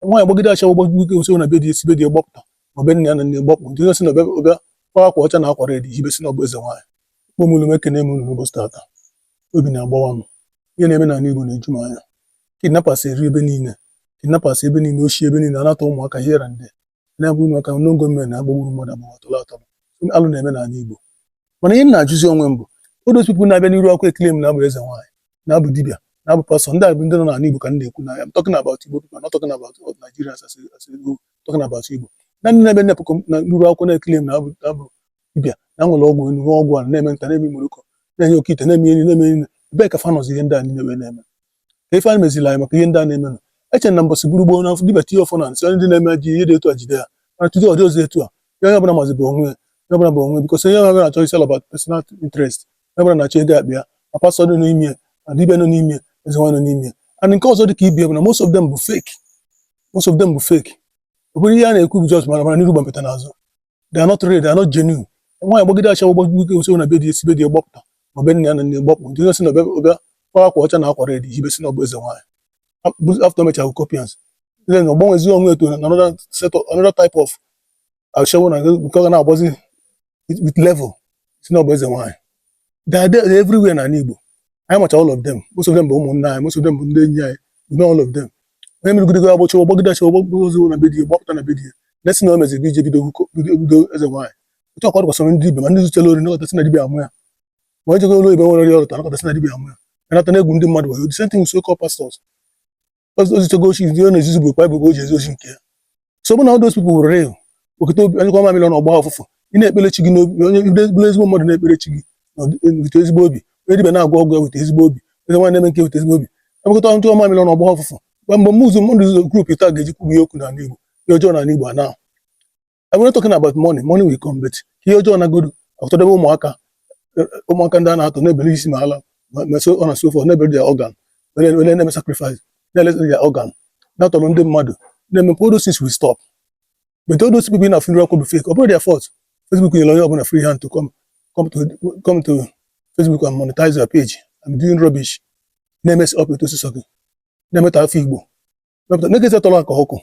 nwaanyị gbagide asha gbagide o si na be di e si be di gbapụta ma be nna ya na nne gbapụ ndị onye si na ọ bịa kwa akwa ọcha na akwa red hibe sị na ọ bụ eze nwaanyị kpọmụlụ m ekene m unu n'ụbọchị tata obi na-agbawa m ihe na-eme n'ala Igbo na-eju m anya kidnappers eri ebe niile kidnappers ebe niile oshi ebe niile a na-atọ ụmụaka here and there na-abụ ụmụaka n'ogo mme na-agbagburu mmadụ abụọ atọrọ atọrọ alụ na-eme n'ala Igbo mana ihe m na-ajụzi onwe m bụ all those people na-abịa n'iru akwụkwọ e-claim na ha bụ eze nwaanyị na ha bụ dibịa na ha bụ pastọ ndị a bụ ndị nọ n'ala Igbo ka m na-ekwu na I'm talking about Igbo people I'm not talking about all Nigerians as a as a whole, talking about Igbo na ndị na-abịa na pụkọ na n'iru akwụkwọ na-e-claim na ha bụ na ha bụ dibịa na nwere ọgwụ enu nwee ọgwụ ana eme nta na-eme imoroko na-enye oke ite na-eme enyi na-eme enyi ebee ka fa nọzi ihe ndị a niile wee na-eme ka ife anyị meziri anyị maka ihe ndị a na-emenụ eche na mbọsị buru gboo na dibịa tie ọfọ n'ana sị onye ndị na-eme ji ihe dị etu a jide ya mana tata ọ dịrọzi etu a ya onye ọbụla mazi bụ onwe ya onye ọbụla bụ onwe because onye ọbụla na-achọ is all about personal interest onye ọbụla na-achọ ego akpa ya ma pastọ nọ n'ime ya ma dibịa nọ n'ime ya eze nwaanyị nọ n'ime ya and nke ọzọ dị ka ibe ya bụ na most of them bụ fake most of them bụ fake ọ bụrụ ihe a na-ekwu bụ just mara mara n'iru gbampeta n'azụ they are not real they are not genuine nwaanyị gbagide asha gbagide o si na be di e si be di gbapụta ma be nna ya na nne gbapụ ndị o si na ọ bịa ọ bịa kpara akwa ọcha na akwa red hibe sị na ọ bụ eze nwaanyị after mecha kopians then ọ gbanwezi onwe ya to another set of another type of ashawo na nke ọ ga na-agbazi with level sị na ọ bụ eze nwaanyị they are there everywhere na Igbo anyị macha all of them most of them bụ ụmụnna anyị most of them bụ ndị enyi anyị we know all of them onye mere gidego agbọchi ọgbọgidachi ọgbọgozi na be di ya gbapụta na be di ya nesi na o mezi bije bido bido eze nwaanyị otu ọkwa dịkwasịrị ndị dibịa ma ndị zutere ori nakọta sị na dibịa amụ ya ma onye jegoro oyibo nwerọ ihe ọ rụta nakọta sị na dibịa amụ ya anata na-egwu ndị mmadụ wayo the same thing with so-called pastors o zuchago oshi ndị ọ na-ezuzi bụ Baịbụl o ji ezu oshi nke ya so ọ bụ na all those people were real wekọta obi nyụkọọ mamịlị ọnụ ọ gbaa ọfụfụ ị na-ekpere chi gị n'obi onye bụrụ ezigbo mmadụ na-ekpere chi gị weta ezigbo obi onye dibịa na-agwọ ọgwụ ya weta ezigbo obi onye nwaanyị na-eme nke weta ezigbo obi emekọta nyụkọọ mamịlị ọnụ ọ gbaa ọfụfụ mgbe mgbe mụzụ mmadụ ụzọ grupu taa ga-eji kwubu ihe okwu n'ala Igbo ihe ọjọọ n'ala Igbo anaa I'm not talking about money money will come but ihe ọjọọ nagodu a tọdebe ụmụaka eh, ụmụaka ndị a na-atọ na-ebere isi ma ala ma so on and so forth na-ebere their organ wele na-eme sacrifice na-eleta their organ na-atọrọ ndị mmadụ na-eme all those things will stop but all those people na-afụ n'iru akwụkwọ bụ fake ọ bụrọ their fault Facebook nyere onye ọbụla free hand to come come to come to Facebook and monetize your page and doing rubbish na-emess up etu o si sọ gị na-emetọ afa Igbo mepụta na-ekesa tọrọ aka ọkụ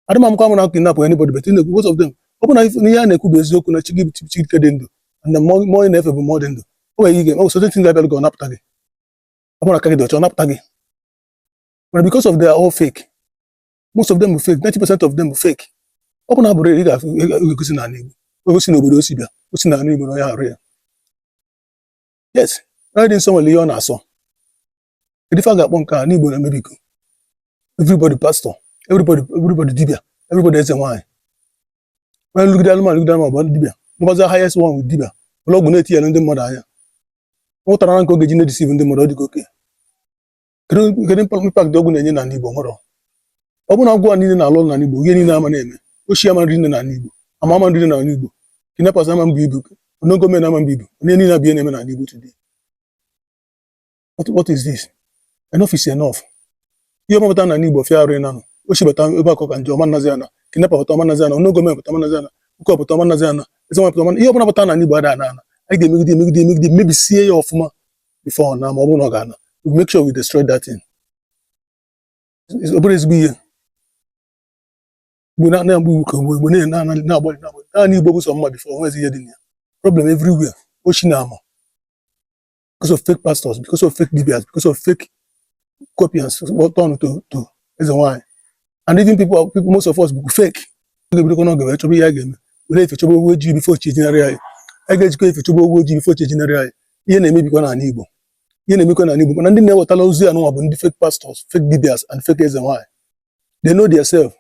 adị ma mkwa mụ na kidnap anybody but na-ekwu most of them ọ bụ na if- n'ihe a na-ekwu bụ eziokwu na chi gị chi gị dị ndụ and na mmụọ mmụọ ị na-efe bụ mmụọ dị ndụ o nwere ike o certain things ga-abịa gị ọ napụta gị ọ bụrụ aka gị dị ọcha ọ napụta gị mana because of they are all fake most of them bụ fake 90 percent of them bụ fake ọ bụ na ha bụ real ị ga-afụ ị ga- ị ga-egosi na ala Igbo egosi na obodo o si bịa o si na ala Igbo na onye a real yes onye dị nsọ nwere ihe ọ na-asọ kedu ife a ga-akpọ nke a n'Igbo na-emebigo everybody pastor everybody everybody dibia everybody eze nwaanyị onye nlụgide anụmanụ lụgide anụmanụ bụ dibia na-abụzi highest one with dibia ụlọ ọgwụ na-eti ya na ndị mmadụ anya ụtara na nke oge ji na-edisiv ndị mmadụ ọ dịgo oke kedu kedu impact impact ndị ọgwụ na-enye n'ala Igbo nwere ọ bụrụ na ọgwụ a niile na-alụ ọrụ n'ala Igbo ihe niile ama na-eme oshi ama na-eri nne n'ala Igbo ama ama na-eri nne n'ala Igbo kidnappers ama na-ebu ibu unknown gunmen ama na-ebu ibu ihe niile abịa na-eme n'ala Igbo today what, what is this enough is enough ihe ọbụna pụta n'ana Igbo fịa arụ ịnanụ oshi bata ebe a ọ ka njọ ọ ma nazi ana kidnapper pụta ọ ma nazi ana unknown gunmen pụta ọ ma nazi ana ụkọ pụta ọ ma nazi ana eze nwa pụta ọ ma ihe ọbụla pụta n'ana Igbo ada ana ana anyị ga-emegide emegide emegide mebisie ya ọfụma before na ma ọ bụrụ na ọ ga-ana we make sure we destroy that thing ọ bụrụ ezigbo ihe mgbe na-anya mgbe iwu ka mgbe mgbe na-ena na na-agbalị na-agbalị n'ana Igbo bụ sọ mma before o nwezi ihe dị na ya problem everywhere oshi na ama because of fake pastors because of fake dibias because of fake copians turn to to eze nwanyị and even people people most of us bụ fake anyị bidokwa n'oge wee chọba ihe a ga-eme were efifie chọba ewu ojii before chi ejinarị anyị a ga-ejikwa efifie chọba ewu ojii before chi ejinarị anyị ihe na-emebikwa n'ala Igbo ihe na-emekwa n'ala Igbo mana ndị na-ewetala ozi anụnwa bụ ndị fake pastors fake dibias and fake eze nwanyị they know their self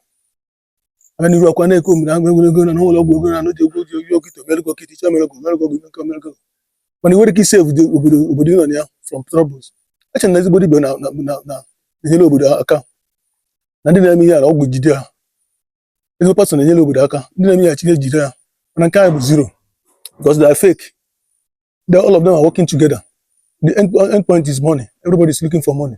aga n'iru ọkwa na-eke omiri agụ enwere ego na na-alụ ọgwụ ego na n'oji egwu oji oji okeite emego okeite iche emego emego gị nke mergo mana i nwerọ ike isave obodo obodo obodo ị nọ na ya from troubles eche na ezigbo dibia na na na na enyere obodo aka na ndị na-eme ihe ala ọgwụ jide ha ezigbo pastọ na-enyere obodo aka ndị na-eme ihe achịna ejide ha mana nke anyị bụ zero because they are fake they all of them are working together the end, end point is money everybody is looking for money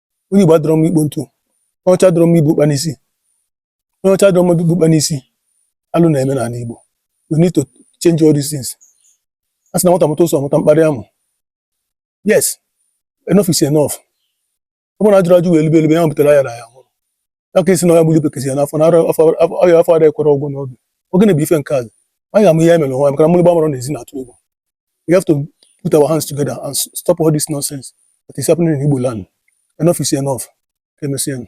onye Igbo adịrọ mma ikpo ntu onye ọcha adịrọ mma ibu ụkpa n'isi onye ọcha adịrọ mma ibu ụkpa n'isi alụ na-eme n'ala Igbo we need to change all these things a sị na nwata mụta ụsọ mụta mkparị amụ yes enough is enough ọ bụrụ na ajụrọ ajụ wee elibe elibe ya butere ayarọ aya aka isi na onye gburu bekezi ya n'afọ na ọya afọ ada ekwere ọgwụ n'oge oge na bụ ife nke azụ anyị ga-amụ ihe mere onwe maka na mmiri gbamara n'ezi na-atụ egwu we have to put our hands together and stop all this nonsense that is happening in Igbo land enough is enough ka emesịa